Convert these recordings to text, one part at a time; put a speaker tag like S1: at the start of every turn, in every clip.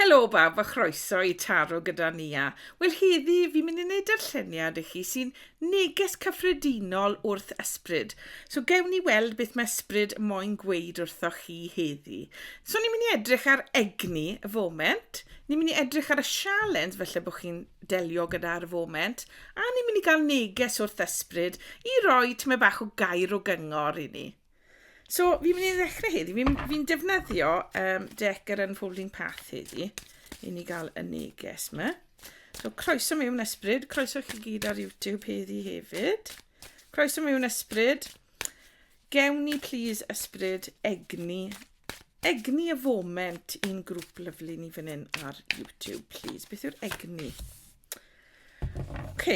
S1: Helo bawb a chroeso i Taro gyda Nia. Wel heddi fi'n mynd i wneud darlleniad i chi sy'n neges cyffredinol wrth ysbryd. So gewn ni weld beth mae ysbryd moyn gweud wrthoch chi heddi. So ni'n mynd i edrych ar egni y foment, ni'n mynd i edrych ar y sialens felly bod chi'n delio gyda'r foment, a ni'n mynd i gael neges wrth ysbryd i roi tymed bach o gair o gyngor i ni. So fi'n mynd i ddechrau heddi, fi'n fi defnyddio um, Decker and Folding Path heddi i ni gael y neges yma. So croeso mewn ysbryd, croeso chi gyd ar YouTube heddi hefyd. Croeso mewn ysbryd. Gewn ni please ysbryd egni, egni y foment i'n grŵp lyflu ni fan hyn ar YouTube please. Beth yw'r egni? OK,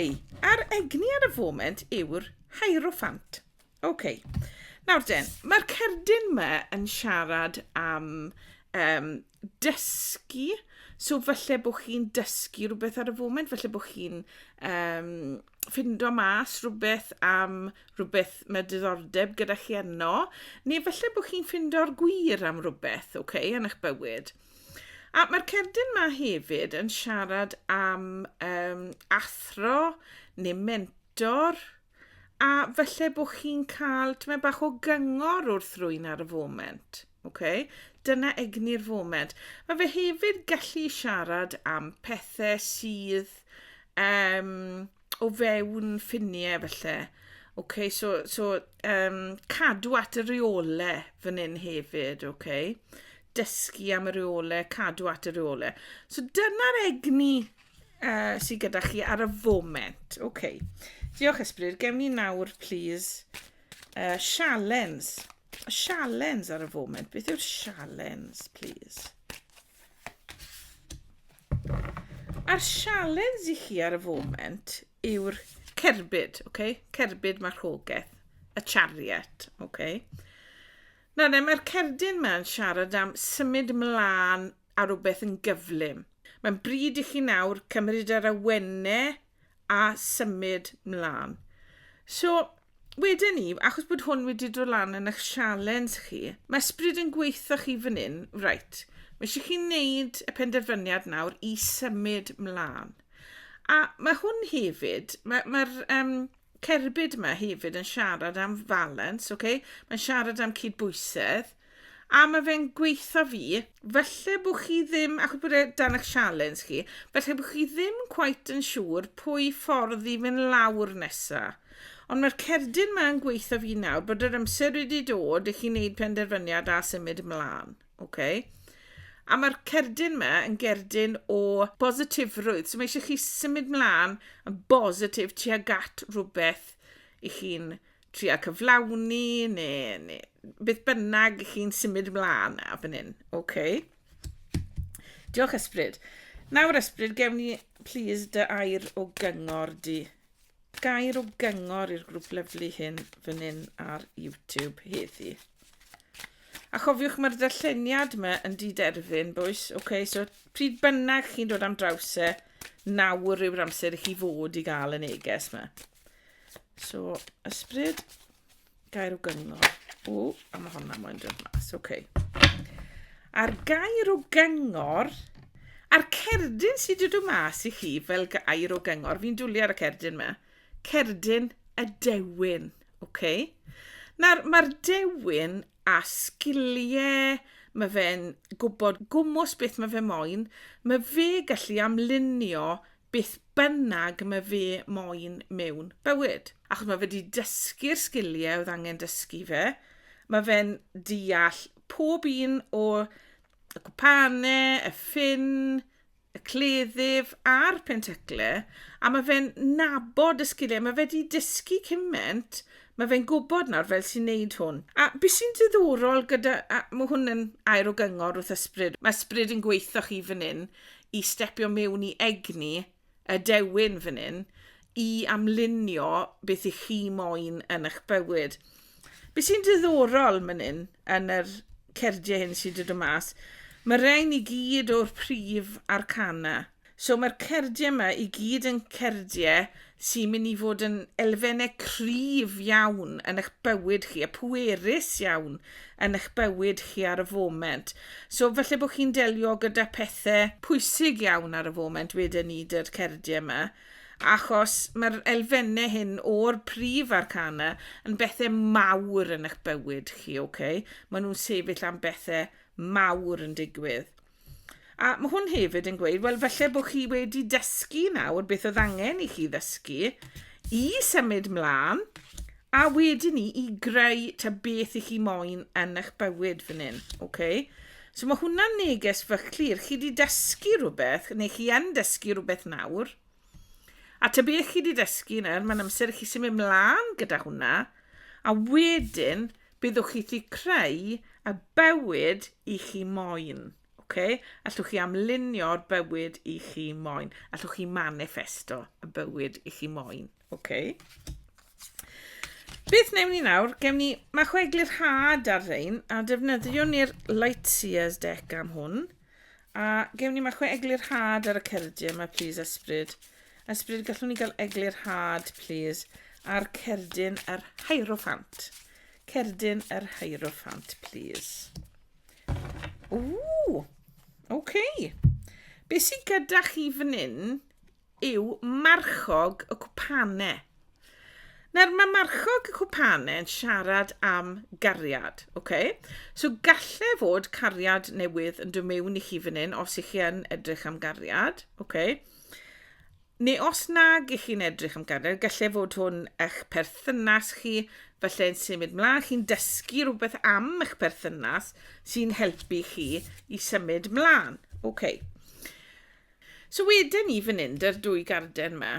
S1: a'r egni ar y foment yw'r hierophant. OK. Nawr den, mae'r cerdyn yma yn siarad am um, dysgu. So falle bod chi'n dysgu rhywbeth ar y foment, falle bod chi'n um, ffindo mas rhywbeth am rhywbeth mae diddordeb gyda chi yno, neu falle bod chi'n ffindo'r gwir am rhywbeth, oce, okay, yn eich bywyd. A mae'r cerdyn yma hefyd yn siarad am um, athro neu mentor, a falle bod chi'n cael tymed bach o gyngor wrth rwy'n ar y foment. Okay? Dyna egni'r foment. Mae fe hefyd gallu siarad am pethau sydd um, o fewn ffiniau felly. Okay, so, so um, cadw at y reole fan hyn hefyd, okay? dysgu am y reole, cadw at y reole. So dyna'r egni uh, sydd gyda chi ar y foment. OK. Diolch Ysbryd. Gewn ni nawr, please, uh, sialens. Sialens ar y foment. Beth yw'r sialens, please? A'r sialens i chi ar y foment yw'r cerbyd, okay? cerbyd marchogaeth, y chariot. Okay? Nawr, mae'r cerdyn yma yn siarad am symud mlaen a rhywbeth yn gyflym. Mae'n bryd i chi nawr cymryd yr awenne a symud mlaen. So, wedyn ni, achos bod hwn wedi dod lan yn eich sialens chi, mae ysbryd yn gweithio chi fan hyn, right, mae eisiau chi wneud y penderfyniad nawr i symud mlaen. A mae hwn hefyd, mae'r mae um, cerbyd yma hefyd yn siarad am falans, ok? Mae'n siarad am cydbwysedd. A mae fe'n gweitha fi, falle bod chi ddim, achos bod e dan eich sialens chi, falle bod chi ddim quite yn siŵr pwy ffordd i fynd lawr nesa. Ond mae'r cerdyn ma'n gweitha fi nawr bod yr amser wedi dod i chi wneud penderfyniad a symud ymlaen. Okay. A mae'r cerdyn yma yn gerdyn o bositifrwydd. So mae eisiau chi symud mlaen yn bositif ti ag at rhywbeth i chi'n tria cyflawni neu, neu beth bynnag i chi'n symud mlaen a fan hyn. Okay. Diolch ysbryd. Nawr ysbryd, gewn ni please dy air o gyngor di. gair o gyngor i'r grŵp lyflu hyn fan hyn ar YouTube heddi. A chofiwch mae'r ddarlleniad yma yn diderfyn, bwys. Oce, okay, so pryd bynnag chi'n dod am draws e, nawr yw'r amser i chi fod i gael y neges yma. So, ysbryd. Gair o gyngor. O, a mae honna moyn dod mas. Oce. Okay. A'r gair o gyngor... A'r cerdyn sydd wedi dod mas i chi fel gair o gyngor. Fi'n dwlu ar y cerdyn yma. Cerdyn y dewin. Oce. Okay. Nawr, mae'r dewin a sgiliau mae fe'n gwybod gwmwys beth mae fe moyn, mae fe gallu amlunio beth bynnag mae fe moyn mewn bywyd. Achos mae fe wedi dysgu'r sgiliau oedd angen dysgu fe, mae fe'n deall pob un o y gwpanau, y ffin, y cleddyf a'r penteclau, a mae fe'n nabod y sgiliau. Mae fe wedi dysgu cymaint, mae fe'n gwybod nawr fel sy'n neud hwn. A beth sy'n diddorol gyda, a mae hwn yn air o gyngor wrth ysbryd, mae ysbryd yn gweithio chi fan hyn i stepio mewn i egni y dewin fan hyn i amlunio beth i chi moyn yn eich bywyd. Be sy'n diddorol man hyn yn yr cerdie hyn sydd wedi dod mas, mae rhain i gyd o'r prif arcana. So mae'r cerdie yma i gyd yn cerdie sy'n mynd i fod yn elfennau cryf iawn yn eich bywyd chi, a pwerus iawn yn eich bywyd chi ar y foment. So falle bod chi'n delio gyda pethau pwysig iawn ar y foment, wedyn ni, dy'r cerdiau yma, achos mae'r elfennau hyn o'r prif arcana yn bethau mawr yn eich bywyd chi, oce? Okay? Maen nhw'n sefyll am bethau mawr yn digwydd. A mae hwn hefyd yn gweud, wel, felly bod chi wedi dysgu nawr beth oedd angen i chi ddysgu i symud mlaen, a wedyn ni i greu ta beth i chi moyn yn eich bywyd fan hyn. Okay? So mae hwnna'n neges fach clir. Chi wedi dysgu rhywbeth, neu chi yn dysgu rhywbeth nawr, a ta beth chi wedi dysgu nawr, mae'n amser i chi symud mlaen gyda hwnna, a wedyn Byddwch chi'thy creu y bywyd i chi moyn. Okay? Allwch chi amlunio'r bywyd i chi moyn. Allwch chi manifesto y bywyd i chi moyn. Okay? Beth newn ni nawr? Gewn ni... Mae chwe eglurhad ar rein, a defnyddiwn ni'r Lightseers deck am hwn. A gewn ni ma chwe eglur had ar y cerdyn yma plîs ysbryd. Ysbryd gallwn ni gael eglur had plîs ar cerdyn yr hieroffant. Cerdyn yr hieroffant plîs. Ww! Oce. Okay. Be sy gyda chi fan hyn yw marchog y cwpane. Nawr, mae marchog y cwpane yn siarad am gariad, oce? So galle fod cariad newydd yn dod mewn i chi fan hyn, os ych chi yn edrych am gariad, oce? Neu os nag ych chi'n edrych am gariad, galle fod hwn eich perthynas chi, falle yn symud mlaen, chi'n dysgu rhywbeth am eich perthynas sy'n helpu chi i symud mlaen, oce? So weden ni fan hyn, dy'r dwy garden yma,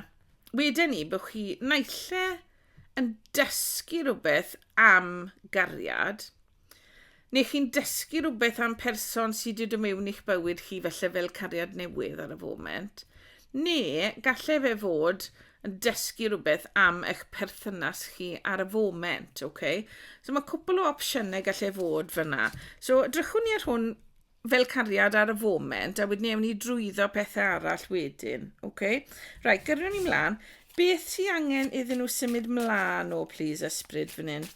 S1: weden ni bod chi naille yn dysgu rhywbeth am gariad, neu chi'n dysgu rhywbeth am person sydd wedi dod mewn i'ch bywyd chi felly fel cariad newydd ar y foment, neu gallai fe fod yn dysgu rhywbeth am eich perthynas chi ar y foment, okay? So mae cwpl o opsiynau gallai fod fyna. So drychwn ni ar hwn fel cariad ar y foment a wedyn ewn ni drwyddo pethau arall wedyn. OK? Right, gyrru ni mlaen. Beth sydd angen iddyn nhw symud mlaen o, please, ysbryd fan hyn?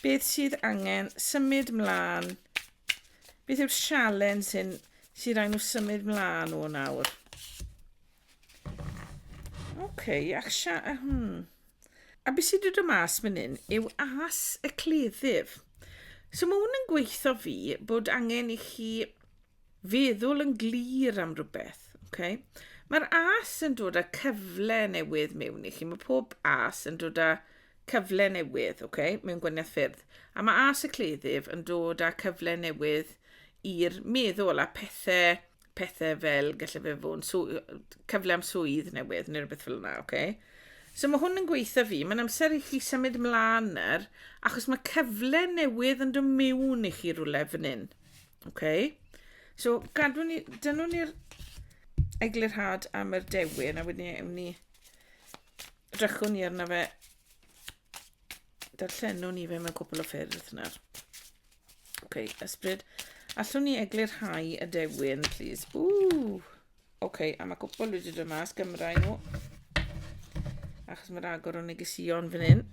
S1: Beth sydd angen symud mlaen? Beth yw'r sialen sy'n sy'n rhaid nhw symud mlaen o nawr? Oce, ac sia... Hmm. A beth sydd wedi dod mas fan hyn yw as y cleddyf. So mae hwn yn gweithio fi bod angen i chi feddwl yn glir am rhywbeth. Okay? Mae'r as yn dod â cyfle newydd mewn i chi. Mae pob as yn dod â cyfle newydd okay? mewn gwaniaeth ffyrdd. A mae as y cleddyf yn dod â cyfle newydd i'r meddwl a pethau pethe fel gallai fe fod yn swy- cyfle am swydd newydd neu rhywbeth fel yna, oce? Okay? So mae hwn yn gweithio fi, mae'n amser i chi symud mlaen nawr, achos mae cyfle newydd yn dod mewn i chi rhywle fan hyn. Okay? So gadw ni, dynwn ni'r eglurhad am yr dewin, a wedyn ewn ni, drychwn ni arno fe, darllenwn ni fe mewn cwpl o ffyrdd nawr. Ok, ysbryd. Allwn ni eglurhau y dewin, please? Ooh! Ok, a mae cwpl wedi dod mas, gymrau nhw. Achos mae'r agor o'n negesion fan hyn.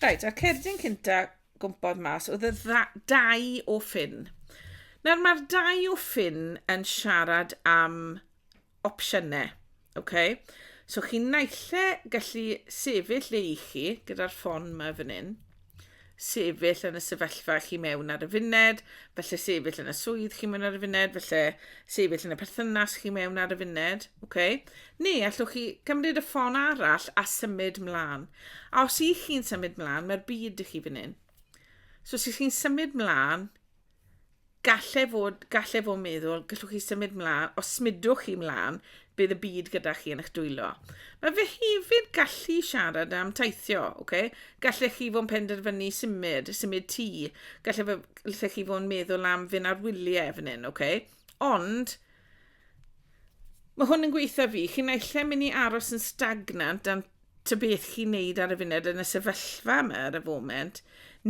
S1: Reit, a'r cerdyn cynta gwmpodd mas oedd y dau o ffyn. Nawr mae'r dau o ffyn yn siarad am opsiynau. Okay? So chi naill gallu sefyll le i chi gyda'r ffon yma fan hyn, sefyll yn y sefyllfa chi mewn ar y funed, felly sefyll yn y swydd chi mewn ar y funed, felly sefyll yn y perthynas chi mewn ar y funed, okay? neu allwch chi gymryd y ffon arall a symud mlaen. A os ych chi'n symud mlaen, mae'r byd i chi fan hyn. So os ych chi'n symud mlaen, Gallai fod, gallai fod meddwl, gallwch chi symud mlaen, os smudwch chi mlaen, bydd y byd gyda chi yn eich dwylo. Mae fe hefyd gallu siarad am teithio, okay? gallech chi fod yn penderfynu symud, symud tŷ, gallech, gallech chi fod yn meddwl am fynd ar wyliau fan hyn, okay? ond mae hwn yn gweithio fi, chi'n eich lle mynd i aros yn stagnant dan ta beth chi'n neud ar y funed yn y sefyllfa yma ar y foment,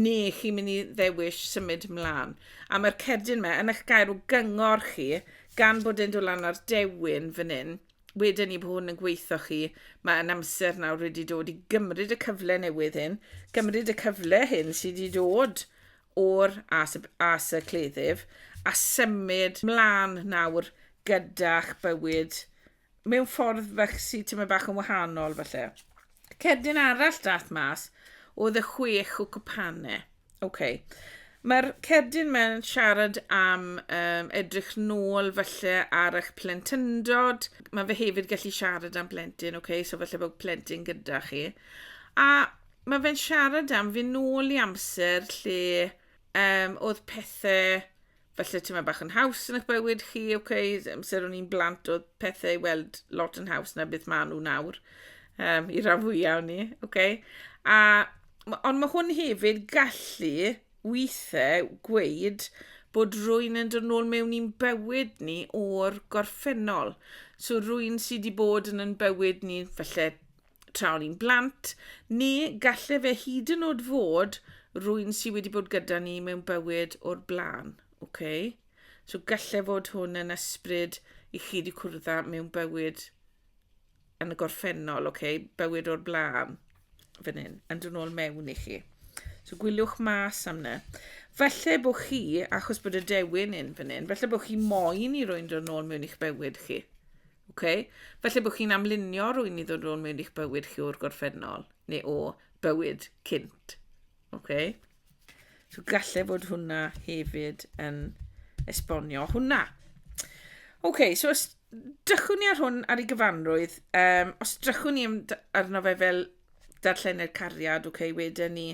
S1: ne chi'n mynd i ddewis symud mlaen. A mae'r cerdyn yma yn eich gair o gyngor chi, gan bod e'n dod lan ar dewin fan hyn, wedyn ni bod hwn yn gweithio chi, mae yn amser nawr wedi dod i gymryd y cyfle newydd hyn, gymryd y cyfle hyn sydd wedi dod o'r as, as y cleddyf, a symud mlaen nawr gyda'ch bywyd mewn ffordd fach sydd tyma bach yn wahanol falle. Cerdyn arall dath mas oedd y chwech o cwpane. Okay. Mae'r cerdyn mae'n siarad am um, edrych nôl falle ar eich plentyndod. Mae fe hefyd gallu siarad am blentyn, okay? so falle bod plentyn gyda chi. A mae fe'n siarad am fy nôl i amser lle um, oedd pethau falle tyma bach yn haws yn eich bywyd chi, oce, okay, amser o'n i'n blant oedd pethau i weld lot yn haws na beth maen nhw nawr, um, i ran fwyaf o'n ni, oce. Okay. A, ond mae hwn hefyd gallu weithiau gweud bod rwy'n yn dod nôl mewn i'n bywyd ni o'r gorffennol. So rwy'n sydd wedi bod yn yn bywyd ni, felly tra o'n i'n blant, neu galle fe hyd yn oed fod rwy'n sydd wedi bod gyda ni mewn bywyd o'r blaen. Okay? So galle fod hwn yn ysbryd i chi wedi cwrdd â mewn bywyd yn y gorffennol, okay? bywyd o'r blaen, fan hyn, yn dod nôl mewn i chi. So gwyliwch mas am na. Falle bod chi, achos bod y dewin yn fan hyn, falle bod chi moyn i rwy'n dod nôl mewn i'ch bywyd chi. Okay? Felly bod chi'n amlunio rwy'n i ddod rôn mewn i'ch bywyd chi o'r gorffennol, neu o bywyd cynt. Okay? So gallai fod hwnna hefyd yn esbonio hwnna. Okay, so os drychwn ni ar hwn ar ei gyfanrwydd, um, os drychwn ni arno fe fel darllenau'r cariad, okay, wedyn ni,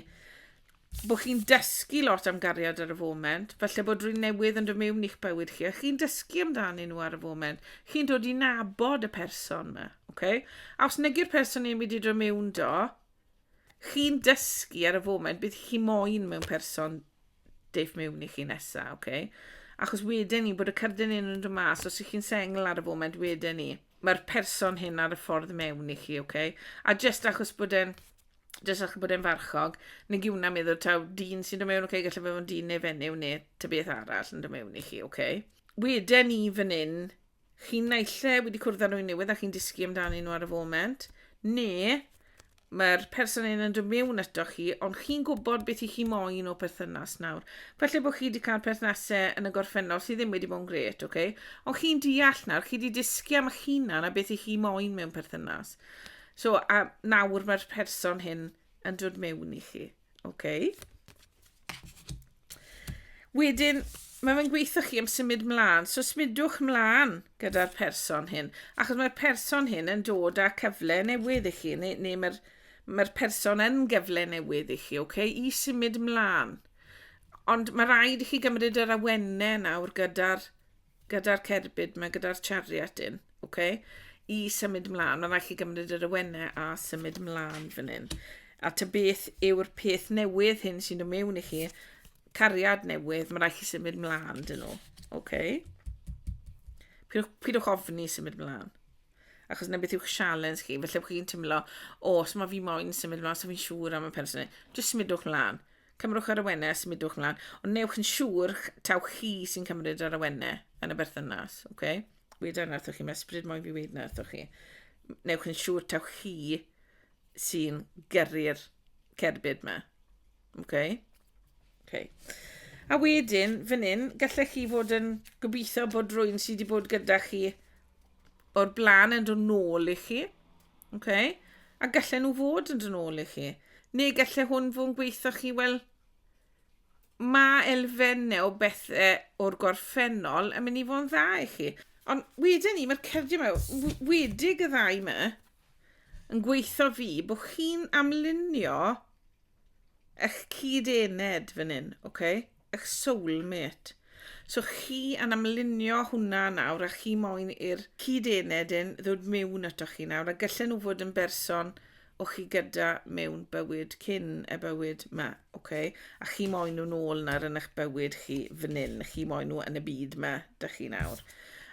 S1: bod chi'n dysgu lot am gariad ar y foment, falle bod rhywun newydd yn dod mewn i'ch bywyd chi, a chi'n dysgu amdanyn nhw ar y foment, chi'n dod i nabod y person yma, okay? a os negy'r person ni'n mynd i dod mewn do, chi'n dysgu ar y foment, bydd chi moyn mewn person deif mewn i chi nesaf, okay? achos wedyn ni bod y cyrdy'n un yn dod mas, os ych chi'n sengl ar y foment wedyn ni, mae'r person hyn ar y ffordd mewn i chi, okay? a jyst achos bod e'n jyst achos bod e'n farchog, nag yw hwnna'n meddwl taw dyn sy'n dod mewn, okay, gallai fe fod yn dyn neu fenyw neu ta beth arall yn dod mewn i chi, okay. Weden ni fan hyn, chi'n naille wedi cwrdd â nhw'n newydd a chi'n dysgu amdano nhw ar y foment, neu mae'r person hyn yn dod mewn ato chi, ond chi'n gwybod beth i chi moyn o perthynas nawr. Felly bod chi wedi cael perthnasau yn y gorffennol sydd ddim wedi bod yn gret, okay? ond chi'n deall nawr, chi wedi dysgu am eich hunan a beth i chi moyn mewn perthynas. So, a nawr mae'r person hyn yn dod mewn i chi. Okay. Wedyn, mae fe'n gweithio chi am symud mlaen. So symudwch mlaen gyda'r person hyn. Achos mae'r person hyn yn dod â cyfle newydd i chi. Neu, neu mae'r mae person yn gyfle newydd i chi. Okay? I symud mlaen. Ond mae rhaid i chi gymryd yr awennau nawr gyda'r gyda'r cerbyd ma, gyda'r chariot un, ok? I symud mlaen, mae'n rhaid chi gymryd yr awennau a symud mlaen fan hyn. A ta beth yw'r peth newydd hyn sy'n dod mewn i chi, cariad newydd, mae'n rhaid chi symud mlaen dyn nhw, ok? Pidwch ofni symud mlaen achos na beth yw'ch sialens chi, felly chi'n tymlo, o, os mae fi moyn symud mlaen, os so fi'n siŵr am y person, jyst symudwch mlaen. Cymrwch yr awenau a symudwch mlaen, ond newch yn siŵr taw chi sy'n cymryd yr awenau yn y berthynas, oce? Okay? Weda na wrthoch chi, mae ysbryd moyn fi wneud na wrthoch chi. Newch yn siŵr taw chi sy'n gyrru'r cerbyd yma, oce? Okay? Okay. A wedyn, fan hyn, gallech chi fod yn gobeithio bod rwy'n sydd wedi bod gyda chi o'r blaen yn dod nôl i chi. Oce? A gallen nhw fod yn dod nôl i chi. Neu gallen hwn fod yn gweithio chi, wel, mae elfennau o bethau o'r gorffennol yn mynd i fod yn dda i chi. Ond wedyn ni, mae'r cerdio yma, wedig y ddau yma, yn gweithio fi bod chi'n amlunio eich cyd-ened fan hyn, oce? Okay? eich soul mate. So chi yn amlinio hwnna nawr a chi moyn i'r cyd-ened yn ddod mewn ato chi nawr a gyllen nhw fod yn berson o chi gyda mewn bywyd cyn y bywyd ma, okay? a chi moyn nhw'n ôl nawr yn eich bywyd chi fan hyn, chi moyn nhw yn y byd ma, da chi nawr.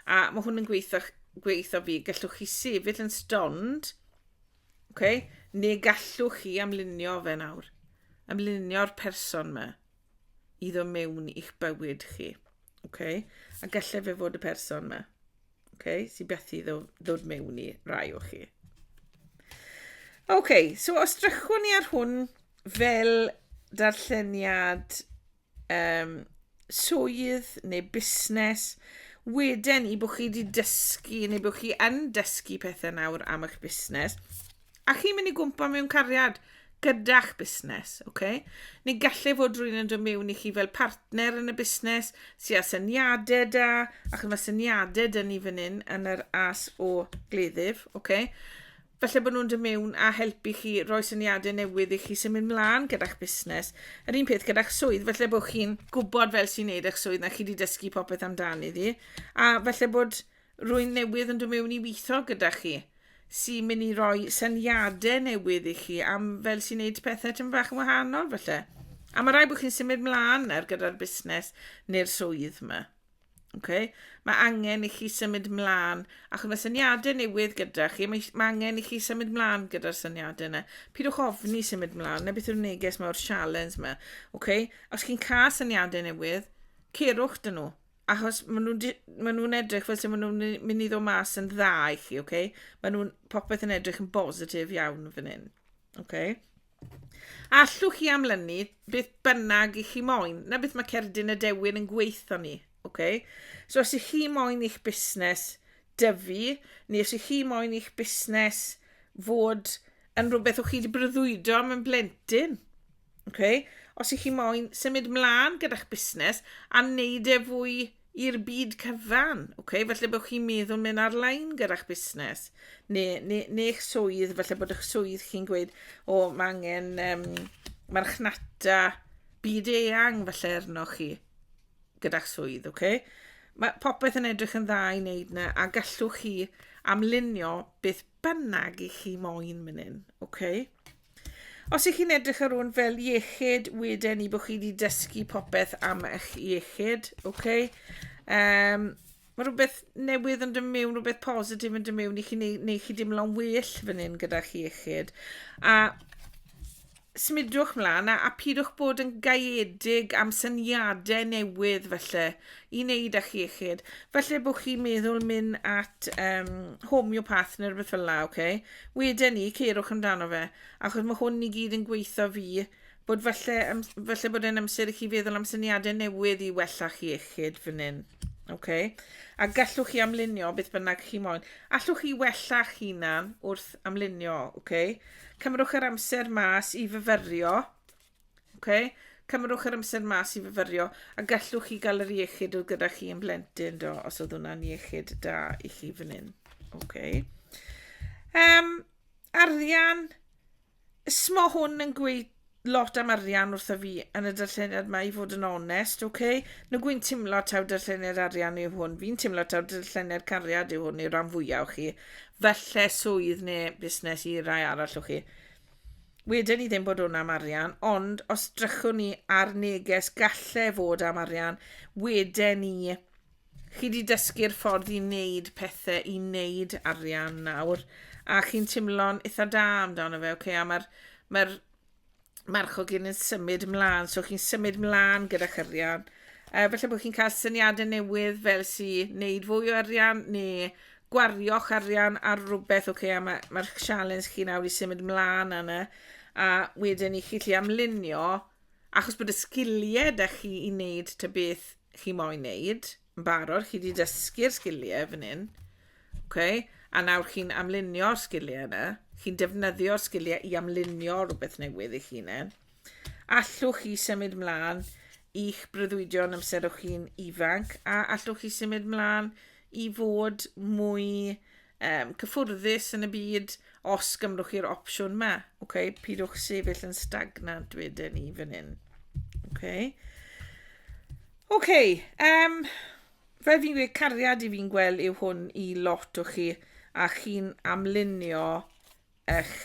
S1: A mae hwn yn gweithio, gweithio fi, gallwch chi sefyll yn stond, okay? neu gallwch chi amlinio fe nawr, amlinio'r person ma. iddo mewn i'ch bywyd chi. Okay? A gallai fe fod y person yma. Okay? Sy'n beth i ddod mewn i rai o chi. Okay, so os drychwn ni ar hwn fel darlleniad um, swydd neu busnes, wedyn i bod chi wedi dysgu neu bod chi yn dysgu pethau nawr am eich busnes, A chi'n mynd i gwmpa mewn cariad gyda'ch busnes, oce? Okay? Neu gallu fod rwy'n yn dod mewn i chi fel partner yn y busnes sy'n â syniadau da, ac mae syniadau da ni fan hyn yn yr as o gleddyf, oce? Okay? Felly bod nhw'n dod mewn a helpu chi roi syniadau newydd i chi symud mlaen gyda'ch busnes. Yr un peth gyda'ch swydd, felly bod chi'n gwybod fel sy'n neud eich swydd na chi wedi dysgu popeth amdani ddi. A felly bod Rwy'n newydd yn dod mewn i weithio gyda chi, sy'n mynd i roi syniadau newydd i chi am fel sy'n neud pethau tyn fach yn wahanol falle. A mae rai bod chi'n symud mlaen nawr gyda'r busnes neu'r swydd yma. Okay? Mae angen i chi symud mlaen, achos mae syniadau newydd gyda chi, mae, mae angen i chi symud mlaen gyda'r syniadau yna. Pidwch ofni symud mlaen, na beth yw'r neges mae o'r sialens yma. Okay? Os chi'n cael syniadau newydd, cerwch dyn nhw. Achos maen nhw'n di- maen nhw'n edrych fel 'se maen nhw'n my- mynd i ddod mas yn dda i chi, ok? Maen nhw'n popeth yn edrych yn bositif iawn fan hyn, ok? Allwch chi amlynu beth bynnag i chi moyn, na beth mae cerdyn y dewin yn gweithio ni, ok? So os ych chi moyn i'ch busnes dyfu, neu os ych chi moyn i'ch busnes fod yn rhywbeth o'ch chi wedi breuddwydo am yn blentyn, Okay? Os ych chi moyn symud mlaen gyda'ch busnes a wneud e fwy i'r byd cyfan, okay? felly bod chi'n meddwl mynd ar-lein gyda'ch busnes, neu, neu, neu eich swydd, felly bod eich swydd chi'n gweud, o, oh, mae angen um, marchnata byd eang felly arnoch chi gyda'ch swydd, oce? Okay? Mae popeth yn edrych yn dda i wneud yna a gallwch chi amlunio beth bynnag i chi moyn mynd hyn, oce? Okay? Os ych chi'n edrych ar hwn fel iechyd, wedyn ni bod chi wedi dysgu popeth am eich iechyd, oce? Okay? Um, mae rhywbeth newydd yn dod mewn, rhywbeth positif yn dod mewn i chi, neu, neu chi dimlo'n well fan hyn gyda'ch iechyd. A symudwch mlaen a, a pidwch bod yn gaeedig am syniadau newydd felly i wneud â'ch iechyd. Felly bod chi'n meddwl mynd at um, homeopath neu rhywbeth fel la, oce? Okay? Weden ni, ceirwch amdano fe, achos mae hwn i gyd yn gweitho fi, bod falle, falle bod e'n amser i chi feddwl am syniadau newydd i wella chi iechyd fan hyn. Okay. A gallwch chi amlunio beth bynnag chi moyn. Allwch chi wella'ch hunan wrth amlunio, okay? Cymrwch yr amser mas i fyfyrio Oce? Cymerwch yr amser mas i fyfyrio, a gallwch chi gael yr iechyd oedd gyda chi yn blentyn, do, os oedd hwnna'n iechyd da i chi fan hyn. Oce. Um, arian, smo hwn yn gweud lot am arian wrtho fi yn y darlleniad mae i fod yn onest, oce? Okay? Nw gwy'n timlo taw darlleniad arian yw hwn. Fi'n timlo taw darlleniad cariad yw hwn i'r rhan fwyaf o chi. Falle swydd neu busnes i rai arall o chi. Weden i ddim bod hwn am arian, ond os drychwn ni ar neges galle fod am arian, weden i chi wedi dysgu'r ffordd i wneud pethau, i wneud arian nawr, a chi'n timlo'n eitha da amdano fe, okay? a mae'r mae marchog yn symud ymlaen, so chi'n symud ymlaen gyda'ch arian. Uh, felly bod chi'n cael syniadau newydd fel sy'n wneud fwy o arian neu gwario'ch arian ar rywbeth, ok, a mae, mae'ch sialens chi nawr i symud mlaen yna, a wedyn i chi lli amlunio, achos bod y sgiliau da chi i wneud ta beth chi moyn wneud, yn barod, chi wedi dysgu'r sgiliau fan hyn, okay? a nawr chi'n amlunio'r sgiliau yna, chi'n defnyddio'r sgiliau i amlunio rhywbeth newydd i chi yna. Allwch chi symud mlaen i'ch breuddwydion amser o'ch chi'n ifanc a allwch chi symud mlaen i fod mwy um, cyffwrddus yn y byd os gymrwch chi'r opsiwn ma. Okay? Pidwch sefyll yn stagnant wedyn ni fan hyn. Okay? Okay, um, fel fi'n gweud, cariad i fi'n gweld yw hwn i lot o chi, a chi'n amlunio eich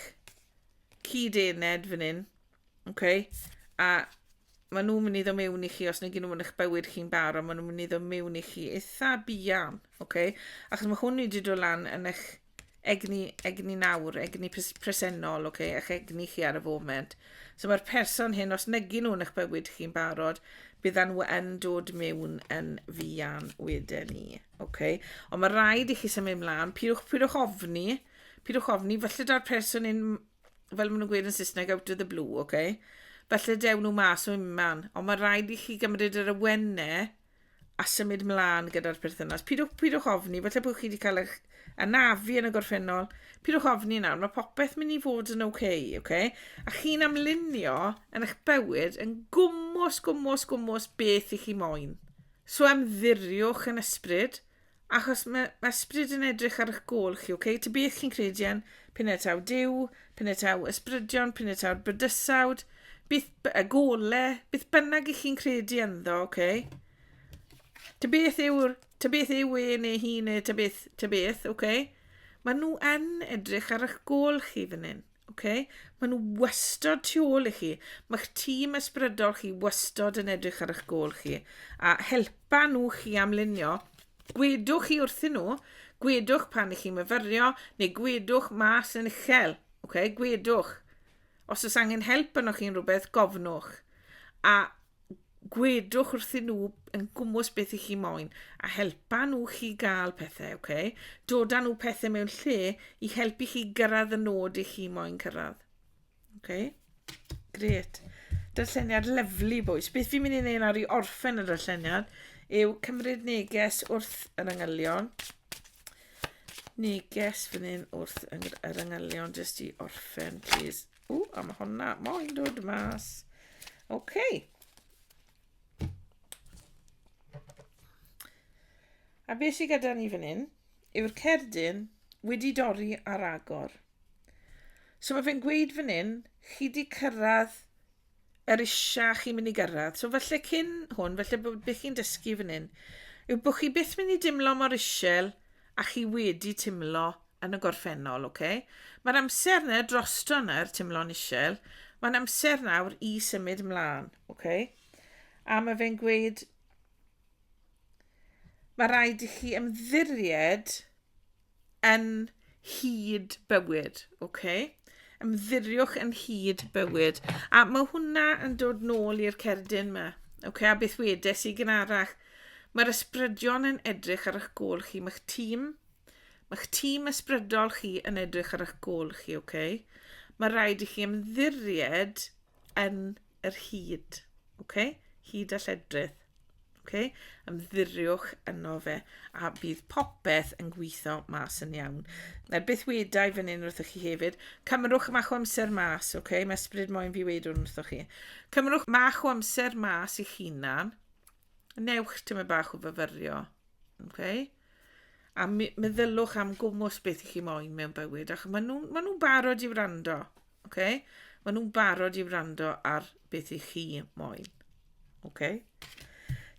S1: cyd-ened fan hyn, okay? a maen nhw'n mynd i ddod mewn i chi, os nag nhw'n mynd i'ch bywyd chi'n barod, maen nhw'n mynd i ddod mewn i chi eitha bian, okay? achos mae hwn wedi dod lan yn eich egni, egni nawr, egni presennol, okay? eich egni chi ar y foment. So mae'r person hyn, os nag nhw'n eich bywyd chi'n barod, byddan nhw yn dod mewn yn fian wedyn ni. Okay? Ond mae rhaid i chi symud ymlaen, pidwch, pidwch ofni, okay? Pidwch ofni, falle da'r person yn, fel maen nhw'n gweud yn Saesneg, out of the blue, oce? Okay? Falle dew nhw mas o unman, ond mae rhaid i chi gymryd yr awennau a symud mlaen gyda'r perthynas. Pidwch, pidwch ofni, falle bod chi wedi cael eich anafu yn y gorffennol. Pidwch ofni nawr, mae popeth mynd i fod yn oce, okay, oce? Okay? A chi'n amlunio yn eich bywyd yn gwmwys, gwmwys, gwmwys beth i chi moyn. So ymddiriwch yn ysbryd, Achos mae, mae ysbryd yn edrych ar eich gol chi, okay? Ta beth chi'n credu yn, penetaw diw, penetaw ysbrydion, penetaw'r bydysawd, beth y gole, beth bynnag i chi'n credu ynddo, okay? Ta beth yw'r, ta beth yw e neu hi neu ta beth, ta beth, okay? Mae nhw yn edrych ar eich gol chi fan hyn. Ok, maen nhw wastod tu ôl i chi. Mae'ch tîm ysbrydol chi wastod yn edrych ar eich gôl chi. A helpa nhw chi am lunio. Gwedwch chi wrthyn nhw, gwedwch pan ych chi'n myfyrio, neu gwedwch mas yn uchel. Ok, gwedwch. Os oes angen help yno chi'n rhywbeth, gofnwch. A gwedwch wrthyn nhw yn gwmwys beth i chi moyn a helpa nhw chi gael pethau, ok? Doda nhw pethau mewn lle i helpu chi gyrraedd y nod i chi moyn cyrraedd. Ok? Gret. Darlleniad lyflu, bwys. Beth fi'n mynd i wneud nawr i orffen y darlleniad yw cymryd neges wrth yr angylion. Neges fan hyn wrth yr angylion, jyst i orffen, please. O, a mae hwnna moyn dod mas. OK. A beth sydd gyda ni fan hyn yw'r cerdyn wedi dorri ar agor. So mae fe'n gweud fan hyn, chi wedi cyrraedd yr isha chi'n mynd i gyrraedd. So falle cyn hwn, falle bod beth chi'n dysgu fan hyn, yw bod chi byth mynd i dimlo mor isel a chi wedi timlo yn y gorffennol, oce? Okay? Mae'r amser yna drosto yna, yr timlo'n isel, mae'n amser nawr i symud ymlaen, oce? Okay? A mae fe'n gweud, mae rhaid i chi ymddiried yn hyd bywyd, ok? Ymddiriwch yn hyd bywyd. A mae hwnna yn dod nôl i'r cerdyn yma. Ok, a beth wedes i gyn arach? Mae'r ysbrydion yn edrych ar eich gol chi, mae'ch tîm, mae'ch tîm ysbrydol chi yn edrych ar eich gol chi, ok? Mae rhaid i chi ymddiried yn yr hyd, ok? Hyd a lledrith. Okay? Ymddiriwch yno fe a bydd popeth yn gweithio mas yn iawn. Na, beth wedau fan hyn wrthych chi hefyd, cymrwch mach o amser mas, okay? mae ysbryd moyn fi wedi hwn wrthych chi. Cymrwch mach o amser mas i chinan, newch tyma bach o fyfyrio. Okay? A meddylwch am gwmwys beth i chi moyn mewn bywyd, ac maen nhw'n ma nhw barod i wrando. Oce? Maen nhw'n barod i wrando ar beth i chi moyn. Oce?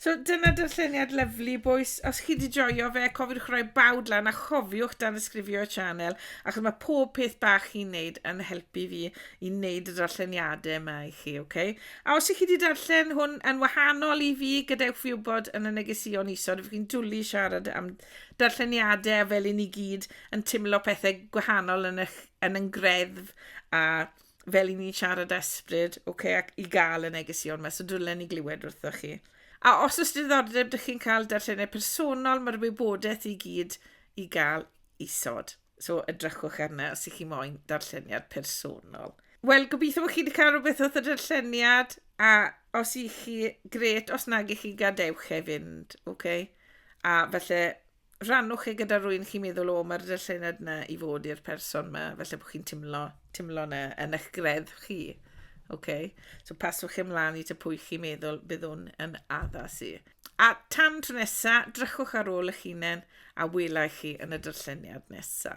S1: So dyna darlleniad lyflu boys. Os chi wedi joio fe, cofiwch roi bawd lan a chofiwch dan ysgrifio y sianel achos mae pob peth bach chi'n neud yn helpu fi i wneud y darlleniadau yma i chi, oce? Okay? A os ych chi wedi darllen hwn yn wahanol i fi, gadewch fi wybod yn y negesion isod, ydych chi'n dwlu siarad am darlleniadau fel i ni gyd yn teimlo pethau gwahanol yn eich yn yng ngreddf a fel i ni siarad ysbryd, oce, okay, ac i gael y negesion yma, so dwi'n ni glywed wrthoch chi. A os oes diddordeb, dych chi'n cael darllenau personol, mae'r wybodaeth i gyd i gael isod. So edrychwch arna os ych chi moyn darlleniad personol. Wel, gobeithio bod chi wedi cael rhywbeth oedd y darlleniad, a os ych chi, gret, os nag ych chi, gadewch e fynd, oce? Okay? A felly, rannwch e gyda rwy'n chi'n meddwl, o, mae'r dyllenad yna i fod i'r person yma, felly bod chi'n timlo, timlo yna yn eich gredd chi. Okay. So paswch ymlaen i ta pwy chi'n meddwl byddwn yn addas i. A tan tro nesa, drychwch ar ôl eich hunain a welai chi yn y dyrlleniad nesa.